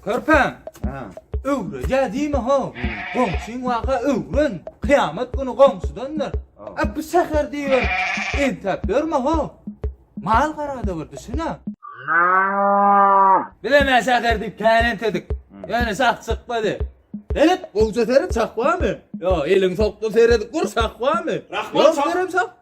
Körpem. Ha. Öwrejä diýme ho. Goňşyň waka öwren. Kyýamat güni goňşydandyr. A bu şäher diýer. Entäp görme ho. Mal garada bir düşünä. Biz hem şäher diýip känet edik. Ýöne şah çykmady. Gelip, gowja seri çakbamy? Yo, eliň sokda seredip gur, çakbamy? Rahman çak.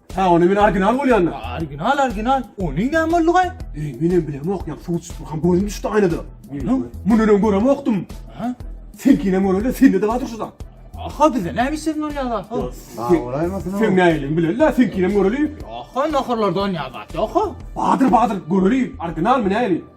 Ha onu men original bolýanda. Original original. Ony näme boldugaý? Ey, men hem bilemok, ýa suw çykyp durkan gözüm düşdi aýnada. Onuň muny öň göremokdym. Ha? Sen kinem göreli, sen de daýdyr şuda. Aha bize näme işin ol ýa-da? Ha. Ha, olaýmasyn o. Sen näýeliň bileli, sen kinem göreli. Aha naharlardan ýa-da. Aha. Badyr badyr göreli, original mi näýeli?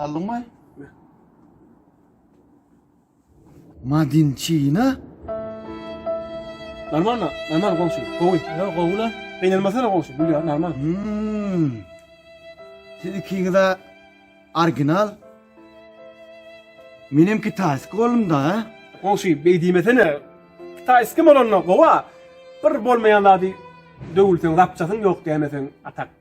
Aldyňmy? Madinçina? Normalno, normal goňşy, gowy. Ýa gowy-la. Gynanmasana goňşy, gül ýa, normal. Hmmm. Siz ikiňiz-ä orginal. Menem kitaýski boldum-da. Goňşy, beý diýmesene. Kitaýski bolanda gowy-a, bir bolmaýan zady döwülseň, zapçasyň ýok dämeseň, a tak.